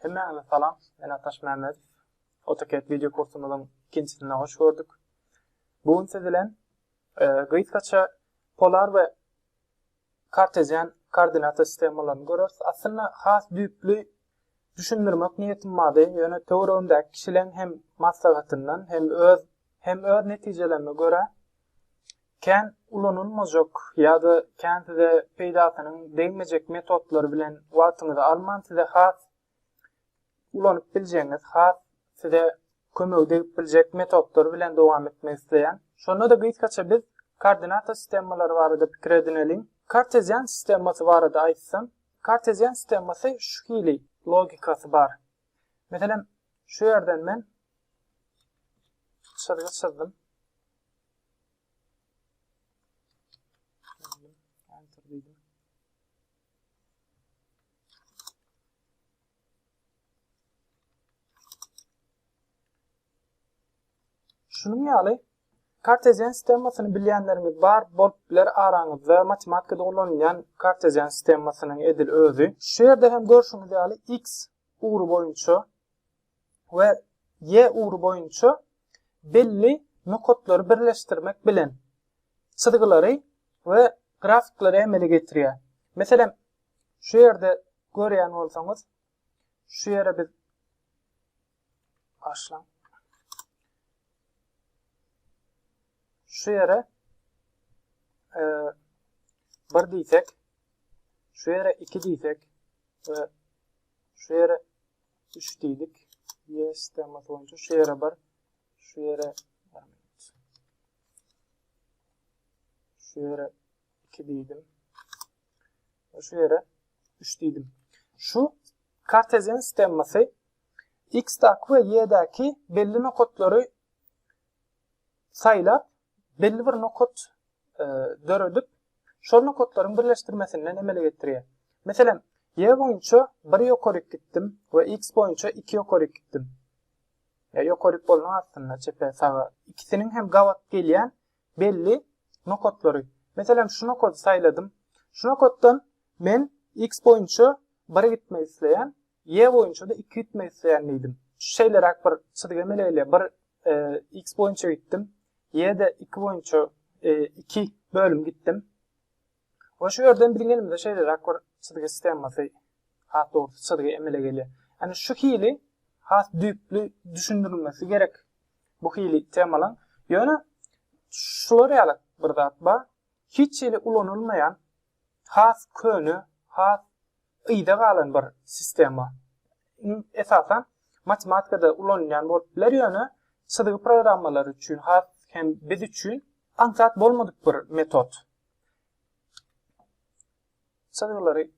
Hemmäňize salam. Men Ataş Mämmedow. AutoCAD wideo kursumyzyň ikinjisine hoş gördük. Bu gün siz bilen e, gysgaça polar we kartezian koordinata sistemalaryny görüris. Aslynda has düýpli Düşündirmek niýetim bardy, ýöne töweregimdäki kişileň hem maslahatyndan, hem öz hem öz netijelerime görä, kän ulanylmajak ýa-da kän size peýdasynyň degmejek metodlar bilen wagtyňyzy alman size has ulanyp biljegiňiz, has size kömegi degip biljek metodlar bilen dowam etmek isleýän. Şonda-da gysgaça biz koordinata sistemalary barada pikir edineliň. Kartezian sistemasy barada aýtsam, Kartezian sistemasy şu hili logikasy bar. Meselem, şu ýerden men çyzgy çyzdym. Şunuň ýaly kartezian sistemasyny bilýänleriňiz bar bolup biler araňyzda matematikada ulanylýan kartezian sistemasynyň edil özi. Şu ýerde hem görşüňiz ýaly x ugry boýunça we y ugry boýunça belli nokatlary birleşdirmek bilen çyzgylary we grafiklary emele getirýär. Meselem, Şu ýerde görýän bolsaňyz, şu ýere biz başlan. Şu ýere e, bir diýsek, şu ýere iki diýsek we şu ýere üç diýdik. Yes, tema boýunça şu ýere bir, şu ýere şu ýere iki diýdim. Şu ýere 3 diýdim. Şu kartezian stemmasy x-däki we y-däki belli nokatlary saýlap, belli bir nokat e, döredip, şol nokatlaryň birleşdirmesinden emele getirýär. Meselem, y boýunça 1 ýokaryk gitdim we x boýunça 2 ýokaryk gitdim. Ýa ýokaryk bolmaň astynda çepe saga ikisiniň hem gabat gelýän belli nokatlary. Meselem, şu nokady saýladym. Şu nokatdan men X boýunça bir gitmek isleýän, Y boýunça-da iki gitmek isleýän diýdim. Şeýleräk bir çyzgy emele gelýär. Bir X boýunça gitdim, Y-de iki boýunça iki bölüm gitdim. We şu ýerden biziň elimizde şeýleräk bir çyzgy skemasy, has dogrusy çyzgy emele gelýär. Ýani şu hili has düýpli düşündirilmesi gerek bu hili temalaň. Ýöne şular ýalak bir zat bar. Hiç hili ulanylmaýan has köne, has yza galan bir sistema. Esasan matematikada ulanylýan bolup biler ýöne çyzgy programmalary üçin has hem biz üçin aňsat bolmadyk bir metod. Çyzgylary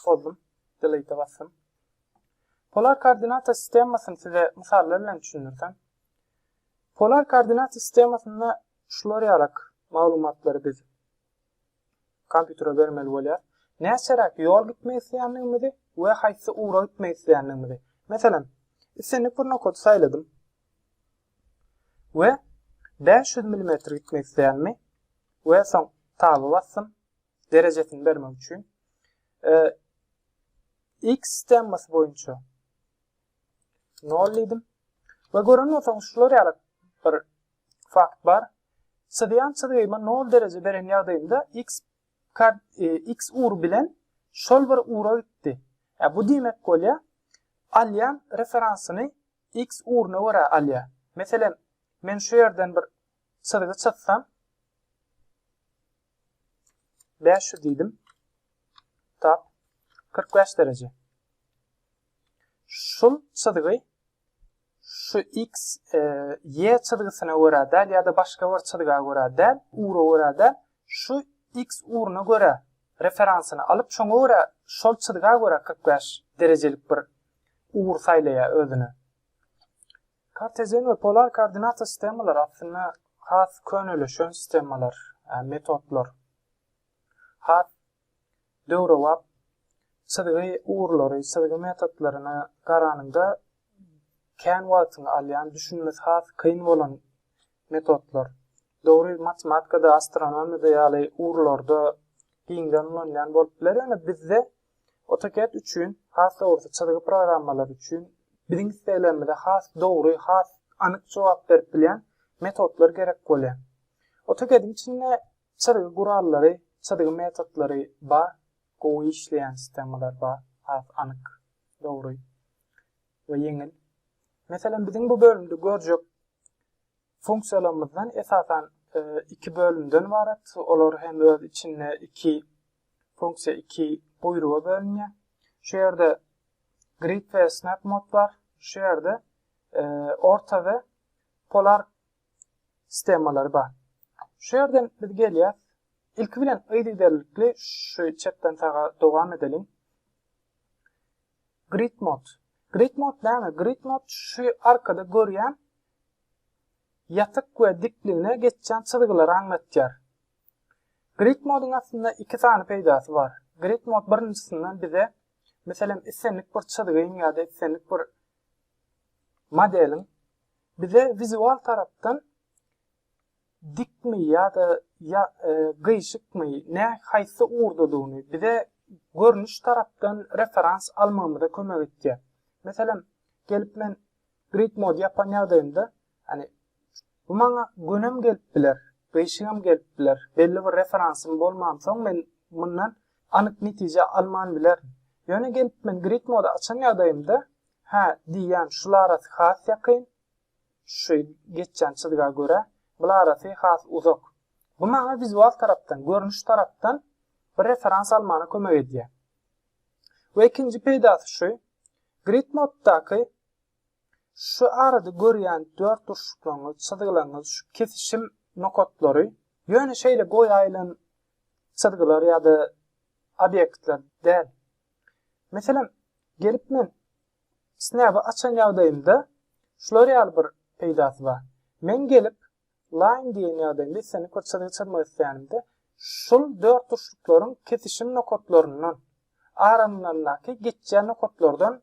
bozdum. Delete'e basdym. Polar koordinata sistemasyny size mysallar bilen düşündirdim. Polar koordinata sistemasynda şular ýalak maglumatlary biz kompýutere bermeli bolýar. Näçeräk ýol gitmek isleýändigimizi we haýsy ugra gitmek isleýändigimizi. Meselem, islendik bir nokady saýladym. we bäş ýüz milimetr gitmek isleýänmi we soň taba basdym derejesini bermek üçin x temmasy boýunça nol diýdim we gören bolsaňyz şular ýaly bir fakt bar çyzýan çyzgyma nol dereje beren ýagdaýymda x x ur bilen şol bir ura gitdi bu diýmek bolýar alýan referansyny X ugruna görä alýar. Meselem, men şu ýerden bir çyzgy çyzsam, bäş ýüz diýdim. Tap, kyrk bäş dereje. Şul çyzgy şu x, e, y çyzgysyna görä däl ýa-da başga bir çyzga görä däl, ugra görä däl, şu x ugruna görä referansyny alyp, şoňa görä şol çyzga görä kyrk bäş derejelik bir ugur saýlaýar özüne. Kartezian we polar koordinata sistemalary aslynda has könelişen sistemalar, metodlar. Has döwrebap çyzgy ugurlary, çyzgy metodlaryna garanyňda kän wagtyňy alýan, düşünmesi has kyn bolan metodlar. Dogry, matematikada, astronomiýada ýaly ugurlarda giňden ulanylýan bolup biler, ýöne bizde AutoCAD üçin, has dogrusy, çyzgy programmalary üçin biziň isleglerimize has dogry, has anyk jogap berip bilýän metodlar gerek bolýar. AutoCAD-iň içinde çyzgy gurallary, çyzgy metodlary bar, gowy işleýän sistemalar bar, has anyk, dogry we ýeňil. Meselem, biziň bu bölümde görjek funksiýalarymyzdan esasan iki bölümden ybarat, olar hem öz içinde iki Funksiýa iki buýruga bölünýär. Şu ýerde grid we snap mod bar. Şu ýerde orta we polar stemalary bar. Şu ýerden biz gelýäs. Ilki bilen yzygiderlikli şu çepden saga dowam edeliň. Grid mod. Grid mod näme? Grid mod şu arkada görýän ýatyk we dikligine geçýän çyzgylary aňlatýar. Grid modyň aslynda iki sany peýdasy bar. Grid mod birinjisinden bize, meselem, islendik bir çyzgyň ýa-da islendik bir modeliň bize wizual tarapdan dikmi ýa-da ýa, e, gyýşykmy, nä haýsy ugurdadygyny bize görnüş tarapdan referans almagymyza kömek etýär. Meselem, gelip men grid mod ýapan ýagdaýymda Ýani bu maňa gönem gelip biler, gyşygam gelip biler. Belli bir referansym bolmansoň men mundan anyk netije alman bilerin. Ýöne gelip men grid mody açan ýagdaýymda hä diýýän şul arasy has ýakyn, şu geçýän çyzga görä bul arasy has uzak. Bu maňa wizual tarapdan, görnüş tarapdan bir referans almana kömek edýär. We ikinji peýdasy şu, grid moddaky Şu arada görýän dört durşuklaryňyz, çyzgylaryňyz, şu kesişim nokatlary, ýöne şeýle boýaýylan çyzgylar ýa-da obýektler däl. Meselem, gelip men snap-y açan ýagdaýymda şular ýaly bir peýdasy bar. Men gelip line diýen ýagdaýymda, islendik bir çyzgy çyzmak isleýänimde, şul dört durşuklaryň kesişim nokatlaryndan, aralaryndaky geçýän nokatlardan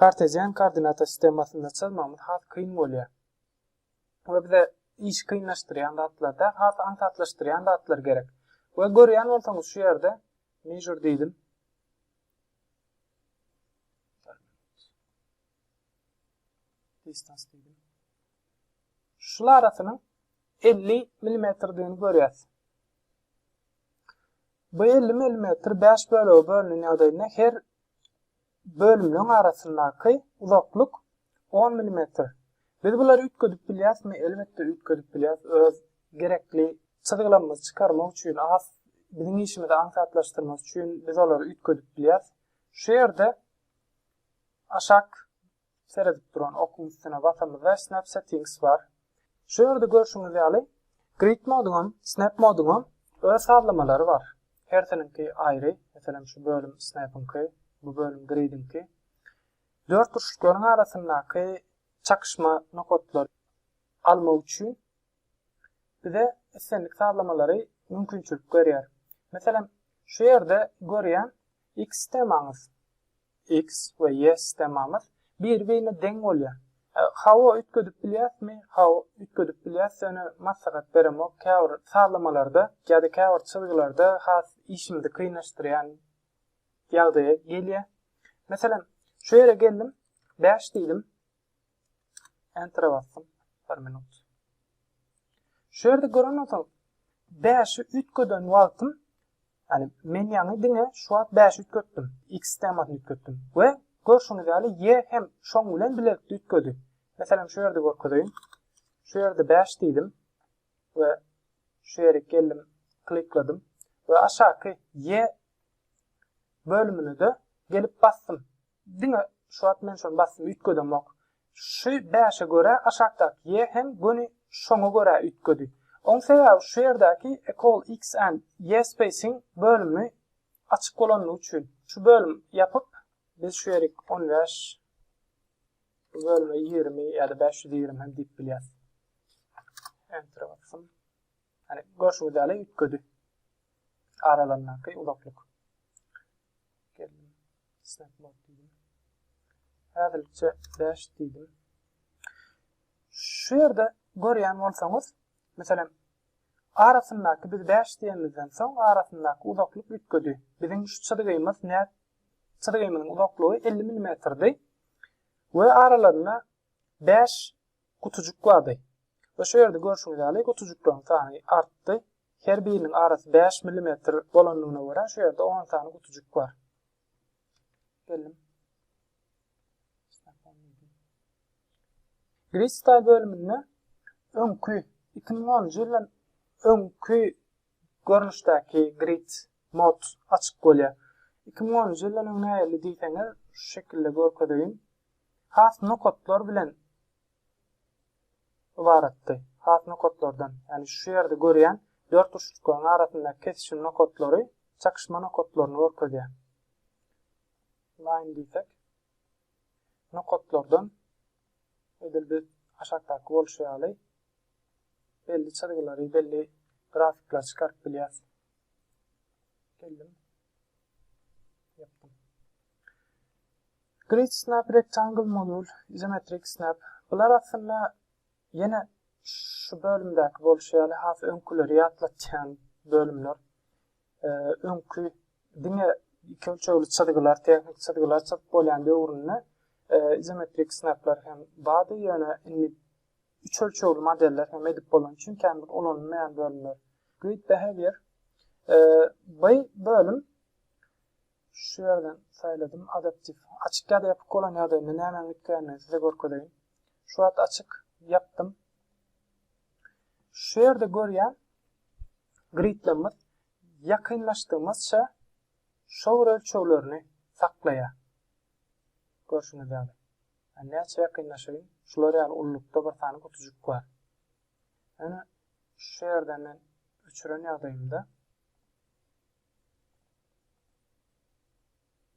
Kartezian koordinata sistemasynda çyzmagymyz has kyn bolýar. We bize işi kynlaşdyrýan zatlar däl, has aňsatlaşdyrýan zatlar gerek. We görýän bolsaňyz şu ýerde measure diýdim. Distance diýdim. Şul arasynyň 50 mmdigini görýäs. Bu 50 mm 5 bölege bölünen ýagdaýynda her bölümleň arasyndaky uzaklyk on milimetr. Biz bulary üýtgedip bilýäsmi? Elbetde üýtgedip bilýäs. Öz gerekli çyzgylamyzy çykarmak üçin has biziň işimizi aňsatlaşdyrmak üçin biz olary üýtgedip bilýäs. Şu ýerde aşak Seredip duran okuň üstüne basamyzda Snap Settings bar. Şu ýerde görşüňiz ýaly Grid moduňam, Snap moduňam öz sazlamalary bar. Hersiniňki aýry, meselem şu bölüm Snap-yňky, bu bölüm Grid-iňki. Dört burçluklaryň arasyndaky çakyşma nokatlary almak üçin bize islendik sazlamalary mümkinçilik berýär. Meselem şu ýerde görýän X stemamyz. X we Y stemamyz biri-birine deň bolýar. Hawa üýtgedip bilýäsmi? Hawa üýtgedip bilýäs, ýöne maslahat beremok, käbir sazlamalarda ýa-da käbir çyzgylarda has işimizi kynlaşdyrýan ýagdaýa gelýär. Meselem, şu ýere geldim, bäş diýdim. Enter basdym. 1 minut. Şu ýerde gören bolsaň, 5-i üýtgeden wagtym, ýani men ýaňy diňe şu wagt 5 üýtgetdim, x temasyny üýtgetdim we görşüňiz ýaly y hem şoň bilen bilelikde üýtgedi. Meselem, şu ýerde görkezeýin. Şu ýerde 5 diýdim we şu ýere geldim, klikladym we aşaky y bölümine-de gelip basdym. Diňe şu wagt men şony basyp üýtgedemok. Şu bäşe görä aşakdaky ýe hem göni şoňa görä üýtgedi. Oň sebäbi şu ýerdäki Ecall X and ýe Spacing bölümi açyk bolanlygy üçin. Şu bölüm ýapyp biz şu ýerik on bäş bu bölüme ýigrimi ýa-da bäş ýüz ýigrimi hem diýip bilýäs. Entere basym. Hani görşüňiz ýaly üýtgedi. Aralaryndaky uzaklyk. Geldim. Snap mode diýdim. Häzirlikçe 5 diýdim. Şu ýerde görýän bolsaňyz, meselem, arasyndaky biz 5 diýenimizden soň arasyndaky uzaklyk üýtgedi. Biziň şu çyzgymyz nä çyzgymyň uzaklygy 50 mmdi we aralarynda 5 gutujyk bardy we şu ýerde görşüňiz ýaly gutujyklaryň sany artdy. Her biriniň arasy bäş millimetr bolandygyna görä şu ýerde on sany gutujyk bar. Geldim. Gristal bölüminde öňki 2010-njy ýyldan öňki görnüşdäki grid mod açyk bolýar. 2010-njy ýyldan öň nähili diýseňiz, şu şekilde görkezeýin. has nokatlar bilen ybaratdy. Has nokatlardan, ýagny şu ýerde görýän dört uçjuklaryň arasyndaky kesişim nokatlary çakyşma nokatlaryny görkezýär. Line diýsek, nokatlardan edil biz aşakdaky bolşy ýaly belli çyzgylary, belli grafikleri çykaryp bilýäris. Geldim. Grid snap, rectangle modul, izometrik snap. Bular aslynda ýene şu bölümdäki bolşy ýaly has öňküleri ýatlatýan bölümler. Öňki diňe iki ölçegli çyzgylar, tehnik çyzgylar çyzyp bolýan döwründe izometrik snaplar hem bardy, ýöne indi Üç ölçegli modeller hem edip bolan çünki hemdir ulanylmaýan bölümler. Grid behavior. Bu bölüm şu ýerden saýladym. Adaptif. Açyk ýa-da ýapyk bolan ýagdaýynda näme gitgänini size görkezeýin. Şu wagt açyk ýapdym. Şu ýerde görýän gridlerimiz ýakynlaşdygymyzça şowur ölçeglerini saklaýar. Görşüňiz ýaly. Ýa näçe ýakynlaşaýyn? Şular ýaly ululykda bir sany gutujyk bar. Ýöne şu ýerden men öçüren ýagdaýymda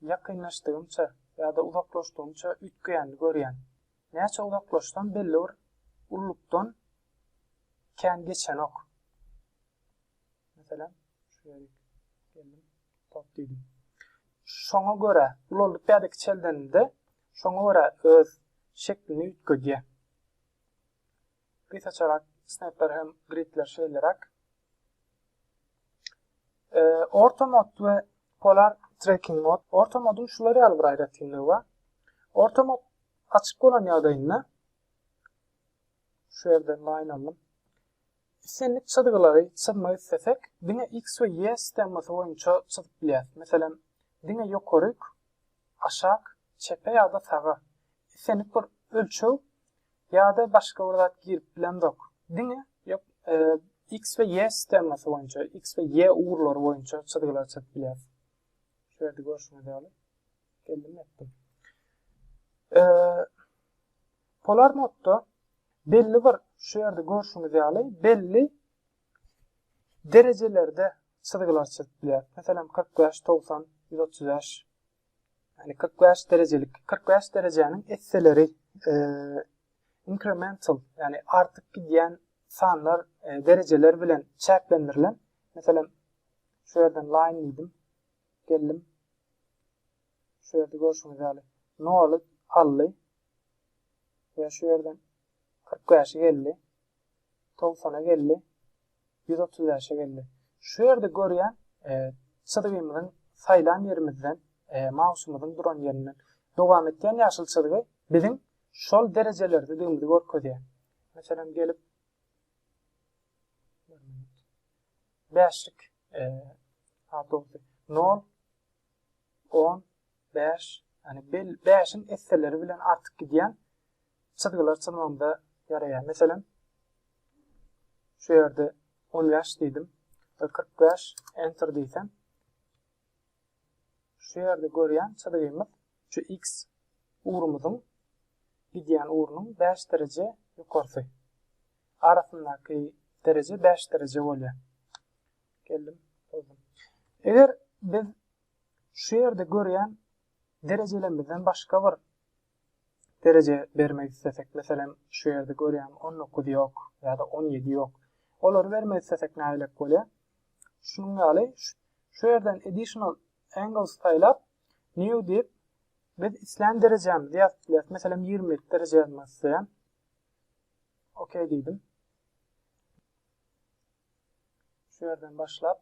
ýakynlaşdygymça ýa-da uzaklaşdygymça üýtgeýänini görýän. Näçe uzaklaşsam belli bir ululykdan kän geçenok. Meselem, şu ýere geldim, top diýdim. Şoňa görä, ulaldyp ýa-da kiçeldenimde Şoňa görä öz şeklini üýtgedýär. Gysaçarak snepler hem gridler şeýleräk. E, orta mod we polar tracking mod. Orta moduň şular ýaly bir aýratynlygy bar. Orta mod açyk bolan ýagdaýynda şu ýerden line aldım. Islendik çyzgylary çyzmak istesek, diňe x we y stemmasy boýunça çyzyp bilýäris. Meselem, diňe ýokaryk aşak, çepe ýa-da saga, islendik bir ölçeg ýa-da başga bir zat girip bilemzok. Diňe ýok, X we Y sistemasy boýunça, X we Y ugurlary boýunça çyzgylary çyzyp bilýäris. Şu ýerde görşüňiz ýaly. Geldim etdim. Polar modda belli bir şu ýerde görşüňiz ýaly belli derejelerde çyzgylar çyzyp bilýär. Meselem, kyrk bäş, togsan, ýüz otuz bäş. Ýagny kyrk bäş derejelik, kyrk bäş derejäniň esseleri inkremental, ýagny artyp gidýän sanlar, derejeler bilen çäklendirilen. Meselem, şu ýerden line diýdim. Geldim. Şu ýerde görşüňiz ýaly noly aldy. Ýa şu ýerden Kyrk bäşe geldi. Togsana geldi. Ýüz otuz bäşe geldi. Şu ýerde görýän çyzgymyzyň saýlan ýerimizden, mausymyzyň duran ýerinden dowam etýän ýaşyl çyzgy biziň şol derejelerdedigimizi görkezýär. Meselem, gelip bäşlik awtobusy nol, on, Bäş, ýagny bel, bäşiň esseleri bilen artyk gidýän çyzgylar çyzmamda ýaraýar. Meselem, şu ýerde on bäş diýdim we kyrk bäş enter diýsem, şu ýerde görýän çyzgymyz şu x ugrumyzyň gidýän ugrunyň bäş dereje ýokarsy. Arasyndaky dereje bäş dereje bolýar. Geldim, bozdum. Eger biz Şu ýerde görýän derejelemizden başga bir dereje bermek islesek, meselem, şu ýerde görýän on dokuz ýok ýa-da on ýedi ýok. Olary bermek islesek nähilek bolýar? Şunuň ýaly, şu ýerden additional angles saýlap, new diýip, biz islän derejämizi ýazyp bilýäris. Meselem, ýigrimi ýedi dereje ýazmak isleýän. OK diýdim. Şu ýerden başlap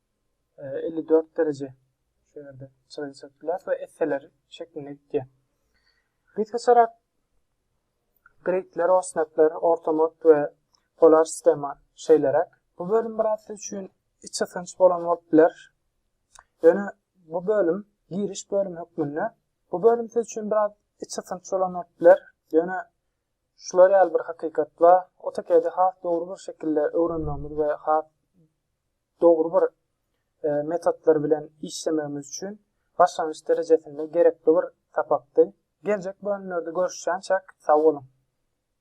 elli dört dereje şu ýerde çyzygy çekdiler we esseler şeklinde gitýär. Biz geçerak gridler, osnetler, ortamod we polar sistema şeýleräk. Bu bölüm biraz siz üçin içi synç bolan bolup biler. Ýöne bu bölüm giriş bölüm hökmünde. Bu bölüm siz üçin biraz içi synç bolan bolup biler. Ýöne şular ýaly bir hakykat bar. AutoCAD-i has dogry bir şekilde öwrenmegimiz we has dogry bir metodlar bilen işlemegimiz üçin başlangyç derejesinde gerekli bir sapakdy. Geljek bölümlerde görüşýänçäk sag boluň.